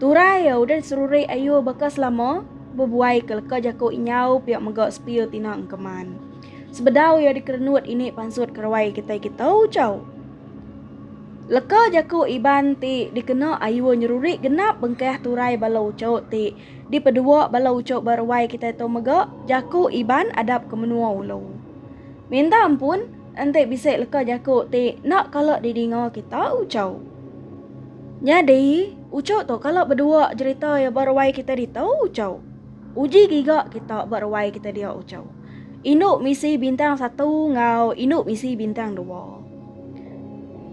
Turai iya udah diserurik ayuh baka selama bebuai ke leka jaku inyau pia mega sepil tina engkeman. Sebedau iya dikerenut ini pansut keruai kitai kita ucau. Leka jaku Iban ti dikena ayuh nyerurik genap bengkah turai bala ucau ti dipedua bala ucau ba ruai kitai tu mega jaku Iban adap ke menua ulu. Minta ampun. Enti bisi leka jaku ti enda kala didinga kita ucau. Nyadi, ucau tu kala bedua jerita iya ba ruai kita ditu ucau. Uji giga kita ba ruai kita dia ucau. Indu misi bintang satu enggau indu misi bintang dua.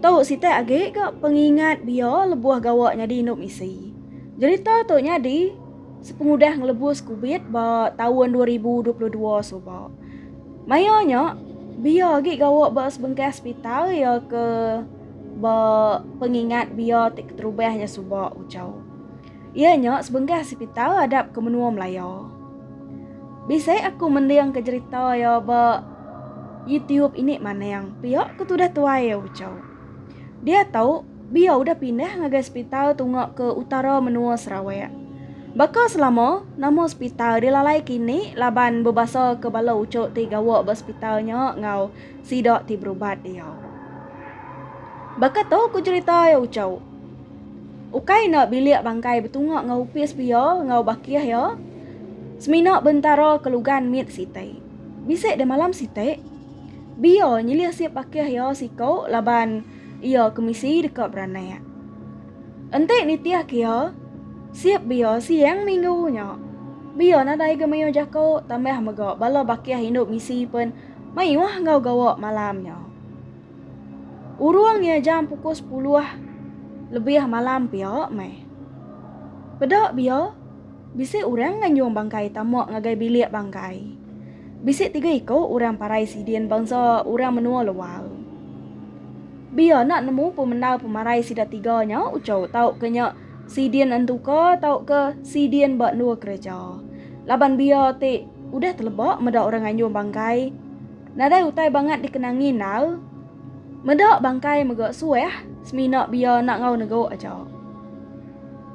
Tu siti agi ga pengingat bia lebuh gawa nyadi indu misi. Jerita tu nyadi sepengudah ngelebus kubit ba taun dua ribu dua puluh dua suba. Maya nya, Bia agi gawa ba sebengkah sepital iya ke ba pengingat Bia ti keterubah nya suba ucau. Iya nya sebengkah sepital adap ke menua Melaya. Bisi aku mending ke jerita iya ba YouTube ini manang, pia ke tudah tuai iya ucau. Dia tau. Bia udah pindah ngagai sepital tunga ke utara menua Sarawak. Baka selama, nama sepital dilalai kini laban bebasa ke bala uchu ti gawa ba sepital nya enggau sida ti berubat iya. Baka tu ku jerita iya uchu. Ukai enda bilik bangkai betunga enggau opis pia enggau bakih iya, semina bentara ke lugan mit siti. Bisi deh malam siti, bia nyilih sip bakih iya siku laban. iya ke misi deka beranak. Enti nitihka iya, sip bia siang minggu nya, bia nadai ga mayuh jaku tambah mega bala bakih indu misi pen mayuh enggau gawa malam nya. Urung iya jam pukul sepuluh lebih malam pia meh. Peda bia. Bisi orang nganjung bangkai tama ngagai bilik bangkai. Bisi tiga iku orang parai sidin bansa orang menua luar. Biar enda nemu pemendar pemarai sida tiga nya uchu tauka nya sidin entuka tauka sidin ba endur kereja. Laban biar ti udah teleba meda orang nganjung bangkai, nadai utai bangat dikenangi endar. Meda bangkai mega suah semina biar enda enggau negu aja.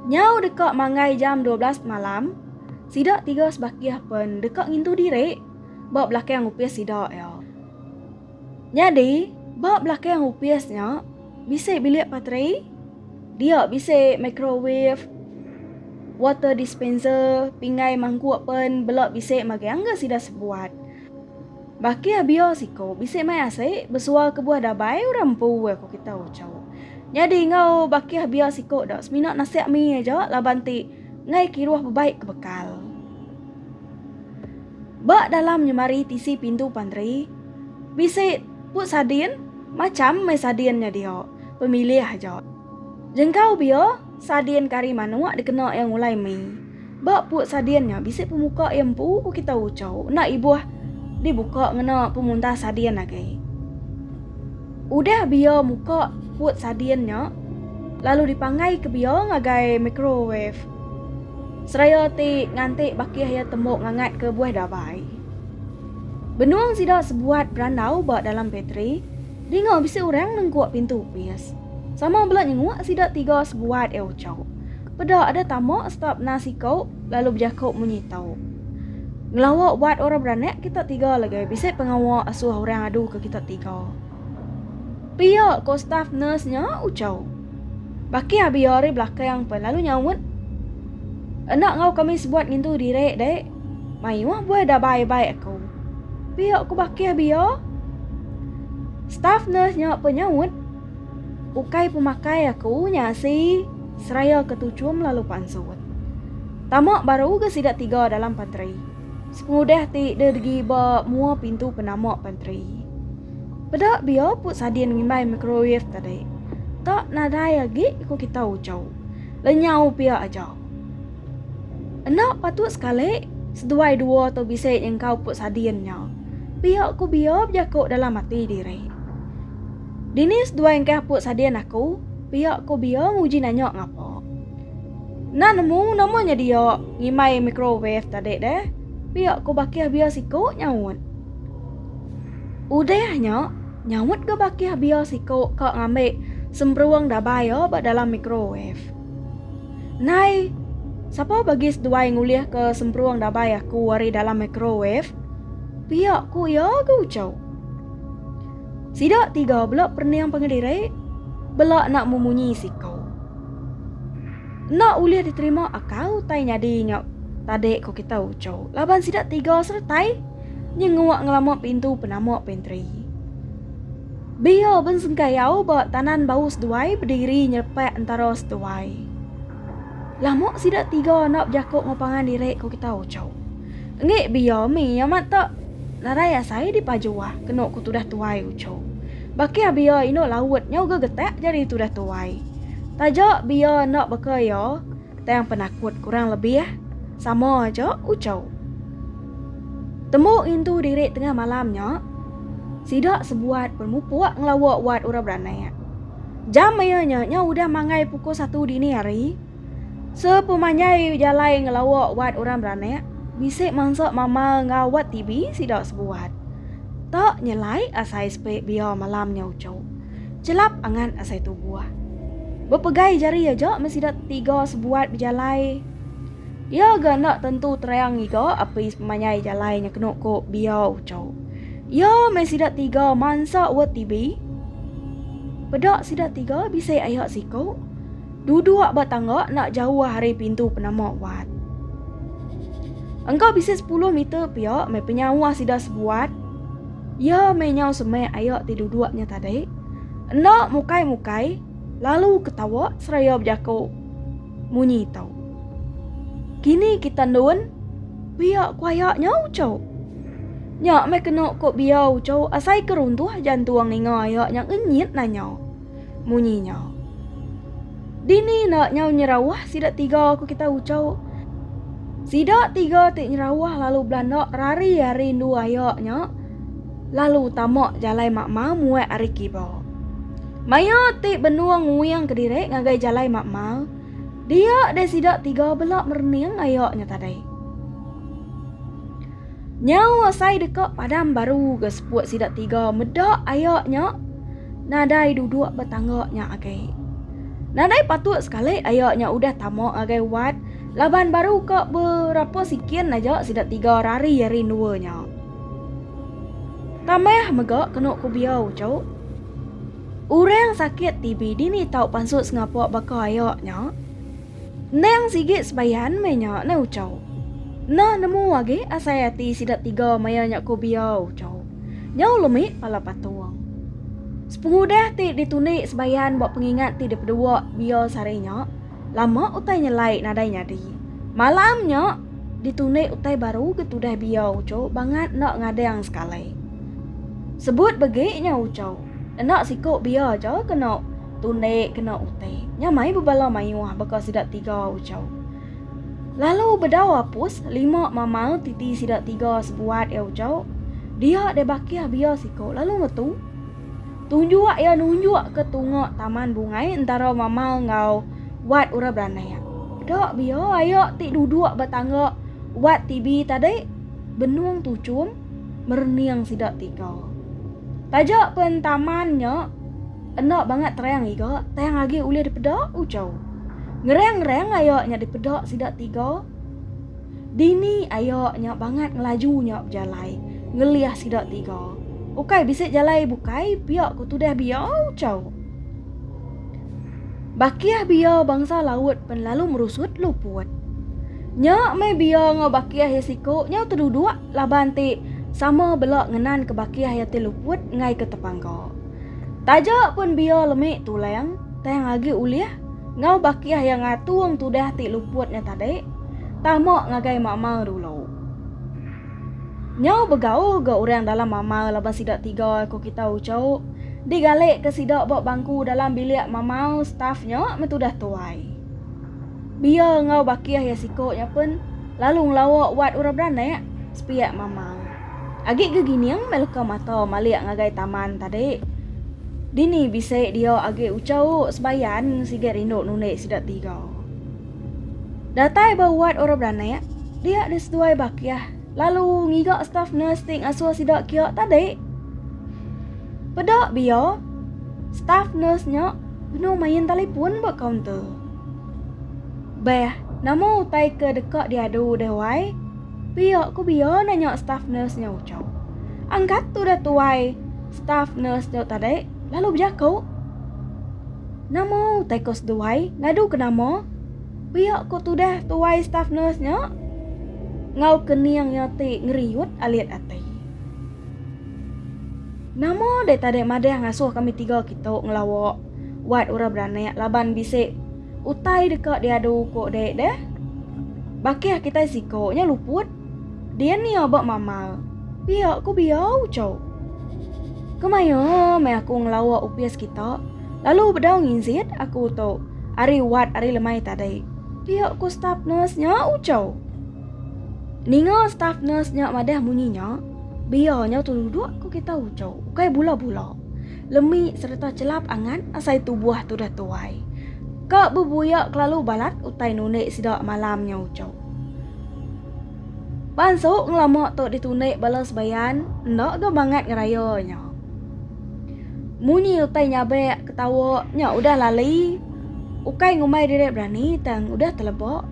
Nyau deka manggai jam dua belas pemalam, sida tiga sebakih pen deka ngintu diri ba belakang opis sida iya. Nyadi, ba belakang opis nya bisi bilik pateri, dia bisi microwave, water dispenser, pinggai mangkuk pen bela bisi magang ga sida sebuat. Baki abio siko bisi mai asi besua kebuah dabai orang empu eh ko kita ucau. Nyadi enggau baki abio siko da semina nasek mi aja laban ti enggai kiruh bebai ke bekal. Ba dalam nyemari tisi pintu pantri bisi put sadin macham meh sadin nya dio pemilih aja. Jengkau bio. Sadin kari manok dikena iya ngulai mie. Ba put sadin nya bisi pemuka iya empu kita ucau enda ibuh dibuka ngena pemuntas sadin agi. Udah biya muka put sadin nya lalu dipanggai ke biya ngagai microwave seraya ti nganti bakih iya tembu ngangat ke buah dabai. Benung sida sebuat berandau ba dalam patri dinga bisi orang nengkuk pintu opis. Sama bela nyenguk sida tiga sebuat eh ucau. Peda ada tama seta pena siko lalu bejako munyi tau. Ngelawa ubat orang beranak kita tiga lagi bisi pengawa asuh orang adu ke kita tiga. Pia ko staf nurse nya ucau. Baki abi ari belakang pen lalu nyaut. Enda ngau kami sebuat ngintu diri dek. Mayuh buai da bai bai aku. Pia ku bakih bia. Staff nurse nya pe nyaut. Ukai pemakai aku nya asi seraya ke tuchum lalu pansut. Tama baru ga sida tiga dalam pantri. Sepengudah ti de degi ba mua pintu penama pantri. Peda bia pu sadin ngimbai microwave tadi. Tak nadai agi ku kita uchu. Lenyau pia aja. Enda patut sekali seduai dua tu bisi nyengkau ku Sadin nya. Pia ku Bia bejaku dalam ati diri. Dini seduai engkah apu Sadin aku? Pia ku Bia nguji nanya ngapa. Enda nemu nama nya dia ngimbai microwave tadi deh. Pia ku bakih Bia siku nyaut. Udah nya, nyaut ga bakih Bia siku ka ngambi semberung dabai iya ba dalam microwave. Nai, sapa bagi seduai ngulihka semperung dabai aku ari dalam microwave? Pia ku iya ga ucau. Sida tiga bela perening pengediri, bela enda memunyi siku. Enda ulih diterima akau utai nyadi nya tadi ku kita ucau laban sida tiga seretai nyenguk ngelama pintu penama pantry. Bia bensengkayau ba tanan bau seduai bediri nyelepak entara seduai. Lama sida tiga enda bejako enggau pangan diri ko kita Ucok. Enggi bia mi amat ta narai asai dipajuah keno ko tudah tuai Ucok. Bakih bia inu laut nyau ga getak jadi tudah tuai. Taja bia enda baka iya. tang penakut kurang lebih sama aja ucau. Tembu ngintu diri tengah malam nya, sida sebuat bermupuk ngelawa wat orang beranak. Jam iya nya nya udah manggai pukul satu dini hari. Sepemanjai jalai ngelawa wat orang beranak, bisi mansa mama ngawat TV sida sebuat. Tak nyelai asai sepi biar malam nya ucau. Chelap angat asai tubuh. Bepegai jari aja men sida tiga sebuat bejalai. Iya ga enda tentu terang ngiga api pemanyai jalai nya kenu ku Bia Uchau. Iya meh sida tiga mansa wet tibi. Peda sida tiga bisi aya siku. Duduk ba tangga enda jauh ari pintu penama wat. Engka bisi 10 meter pia meh penyauh sida sebuat. Iya meh nyau semeh ayak ti duduk nya tadi. Enda mukai mukai, lalu ketawa seraya bejaku munyi tau. Kini kita ndun, pia ku ayak nya uco. Nya meh kena ku bia uco asai ke runtuh jantung ninga ayak nya ngenyit nanya. munyi nya. Dini enda nyau nyerawah sida tiga ku kita ucau. Sida tiga ti nyerawah lalu belanda rari ari endu aya nya lalu tama jalai makma muat ari kiba. Maya ti benung nguing kediri ngagai jalai makma, dia deh sida tiga bela merening aya nya tadi. Nyau asai deka padam baru ke seput sida tiga meda aya nya nadai duduk betangga nya agai. Nadai patut sekali aya nya udah tama agai wat laban baru ke berapa sikin aja sida tiga rari ari endua nya. Tambah mega kenu ku bia uchu, orang sakit TB dini tau pansut sengapa baka aya nya. Endang sigi sebayan meh nya neh ucau. Nah nemu agi asai ati sida tiga maya nya ko Bia ucau. Nyau lemik pala patung. Sepengudah ti ditundi sebayan ba pengingat ti dipedua Bia sehari nya, lama utai nyelai nadai nyadi. Malam nya ditundi utai baru ke tudah Bia ucau bangat enda ngadang sekalai. Sebut begi nya ucau. Enda siko Bia aja keno. Tu ende kena utai. Nya mai bebala mayuh baka sida tiga ucau. Lalu bedau apus lima mamal titi sida tiga sebuat iya ucau. Dia deh bakih bia siko lalu ngetu. Tunjuk iya nunjuk ke tunga taman bungai entara mamal enggau wat orang beranak. Da bia aya ti duduk ba tangga wat TV tadi benung tuchum merening sida tiga. Taja pen taman nya Enda bangat terang iga, tang agi ulih dipeda, ucau. Ngerang-ngerang aya nya dipeda sida tiga. Dini aya nya bangat ngelaju nya bejalai ngelih sida tiga. Ukai bisi jalai bukai pia ku tudah bia, ucau. Bakih bia bangsa laut pen lalu merusut luput. Nya meh bia enggau bakih iya siku nyau teduduk laban ti sama bela ngenanka bakih iya ti luput enggau ke tepangka. Taja pun bia lemi tulang, tang agi ulih ngau bakih yang ngatung tudah ti luputnya tadi, tama ngagai mama dulu. Nyau begau ga orang dalam mama laban sida tiga ko kita uco, digali ke sida ba bangku dalam bilik mama staff nya me tudah tuai. Bia ngau bakih ya siko nya pun lalu ngelawa wat orang beranak, sepiak mama. Agi ke gining meh leka mata malik ngagai taman tadi. Dini bisi dia agi ucau sebayan sigat rindu nunik sida tiga. Datai ba wad orang beranak, dia diseduai bakih lalu ngiga staf nurse ti ngasuh sida kia tadi. Peda bia, staf nurse nya benung main telefon ba kaunter. Beh, nama utai ke deka diadu deh wai? Pia ku Bia nanya staff nurse nya ucau. Angkat tu dah tuai staff nurse tu tadi lalu bejaku. Nama utai kau seduai ngadu ke nama? Pia ku tudah tuai staff nurse nya ngau kening iya ti ngeriut alit ati. Nama deh tadi madah ngasuh kami tiga kitu ngelawa wad orang beranak laban bisi Utai deka diadu ko dek deh. Bakih kitai siko nya luput. Dian ia ba mamal. Pia ko biau cho. Kemaya meh aku ngelawa opis kita. Lalu bedau nginzit aku to ari wad ari lemai tadi. Pia ko staf nurse nya cho. Ninga staf nurse nya madah munyi nya. Bia nya tu duduk ko kita cho. Ukai bula-bula. lemi sereta chelap angat asai tubuh tudah tuai. Ka bebuya kelalu balat utai nunik sida malam nya uchu. Bansu ngelama tu ditunik bala sebayan enda ga mangat ngeraya nya. Munyi utai nyabek ketawa nya udah lali ukai ngumbai diri berani tang udah teleba.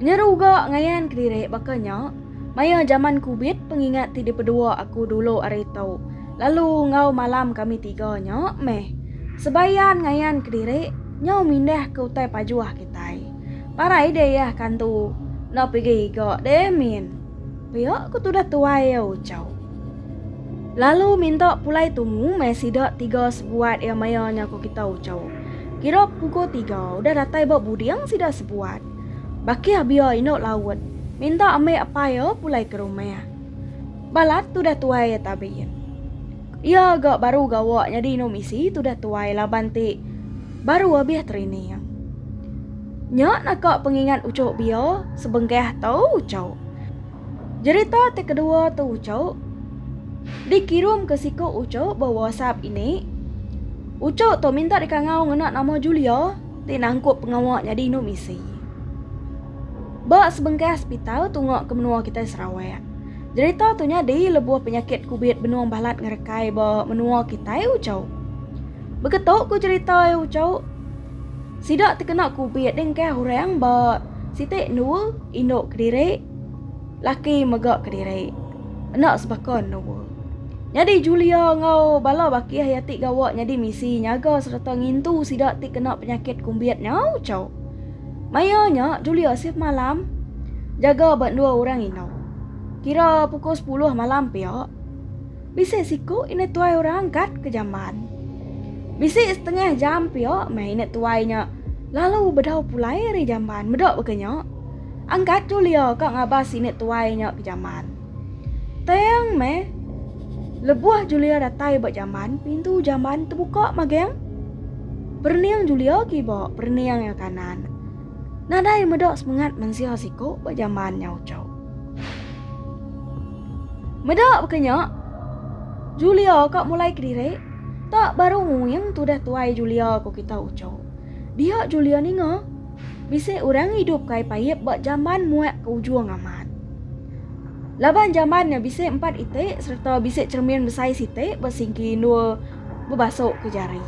Nyeru ga ngayan kediri baka nya Maya jaman kubit pengingat ti dipedua aku dulu ari tu lalu enggau malam kami tiga nya meh sebaian ngayan kediri nyau mindah ke utai pajuh kitai. Parai deh iya kan tu enda pigi iga deh min. Pia ku tudah tuai iya ucau. Lalu minta pulai tumu meh sida tiga sebuat iya maya nya ku kita ucau. Kira pukul tiga udah datai ba buding sida sebuat. Baki Abia indu Laut minta ambi apai iya pulai ke rumah. Balat tudah tuai iya Tabin. Iya ga baru gawa nyadi indu misi tudah tuai laban ti baru abih training. Nya naka pengingat uchu Bia sebengkah tu uchu. Jerita ti kedua tu uchu dikirum ke siku uchu ba WhatsApp ini. Uchu tu minta dikangau ngena nama Julia. ti nangkup pengawa nyadi indu misi. Ba sebengkah sepital tunga ke menua kitai Sarawak, jerita tu nyadi lebuh penyakit kubit benung balat ngerekai ba menua kitai uchu. Beketu ku jerita iya uchu, sida tekena kubit dengkah orang ba siti endur indu kediri Laki mega kediri. Enda sebaka Noor. Nyadi Julia enggau bala baki iya ti gawa nyadi misi nyaga sereta ngintu sida ti kena penyakit kumbit nyau chau. Maya nya Julia shift malam jaga ba endur orang indu. Kira pukul sepuluh malam pia. Bisi siku init tuai orang kat ke jamban. Bisi setengah jam pia meh init tuai nya lalu bedau pulai ari jamban. Meda baka nya. Angkat tu Leo ka ngabas sini tuai nya ke jaman. Tang meh lebuh Julia datai ba jaman, pintu jaman tebuka mageng. Perening Julia kiba, perening iya kanan. Nadai meda semengat mensia siku ba jaman nya uchu. Meda baka nya, Julia ka mulai kediri, tak baru nguing tudah tuai Julia ku kita uchu. Dia Julia ninga? Bisi orang idup ke Ipaip ba jaman muak ke ujung amat. Laban jaman nya bisi empat iti sereta bisi cheremin besai siti ba singki endur bebasuk ke jari.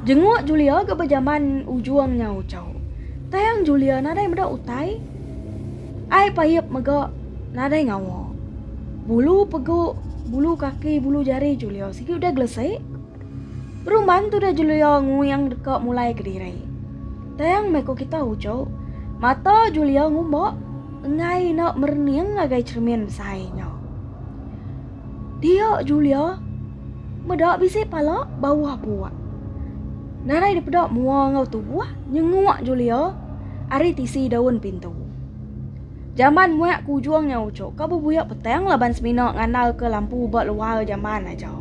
Jenguk Julia ga ba jaman ujung nya uchu. Tang Julia nadai meda utai. Ai Ipaip mega nadai ngawa. Bulu pegu, bulu kaki, bulu jari Julia sigi udah gelesik. Peruman tudah Julia nguyang deka mulai kediri. Tang meh ko kita uco, mata Julia ngumba engai ina merening ngagai cermin besai nya. Dia Julia meda bisi pala bawah buak. Narai dipeda mua enggau tubuh nyenguk Julia ari tisi daun pintu. Jaman muak ke ujung nya uco ka bebuya petang laban semina ngandalka lampu ba luar jaman aja.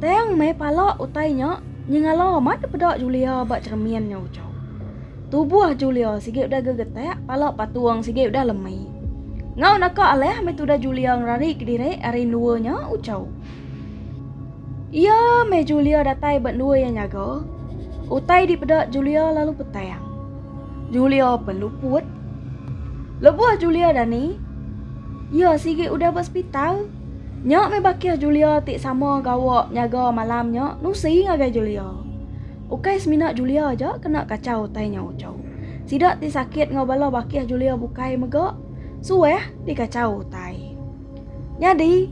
Tang meh pala utai nya nyengala amat dipeda Julia ba cheremin nya uchau. Tubuh Julia sigi udah gegetak, pala patung sigi udah lemi. Ngau naka alah meh tudah Julia ngerari kediri ari endua nya uchaw. Iya meh Julia datai ba endua iya nyaga. Utai dipeda Julia lalu petang. Julia pen luput. Lebuh Julia dani, iya sigi udah ba sepital. Nya meh bakih Julia ti sama gawa nyaga malam nya nusi ngagai Julia. Ukai semina Julia aja kena kachau utai nya uchu. Sida ti sakit enggau bala bakih Julia bukai mega suah dikachau utai. Nyadi,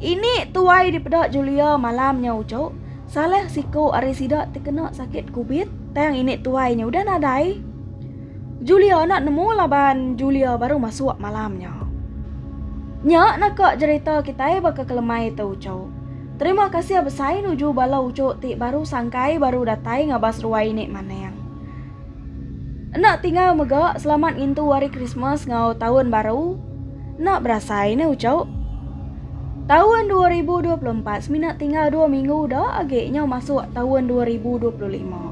ini tuai dipeda Julia malam nya uchu, salah siku ari sida ti kena sakit kubit tang ini tuai nya udah nadai. Julia enda nemu laban Julia baru masuk malam nya. Nya naka jerita kitai baka kelemai te ucu. Terima kasih besai nuju bala ucu ti baru sangkai baru datai ngabas ruai ni maneng. Enda tinggal mega selamat ngintu hari Christmas ngau taun baru. Enda berasai ne ucu. Taun 2024 semina tinggal dua minggu da agi nyau masuk taun 2025.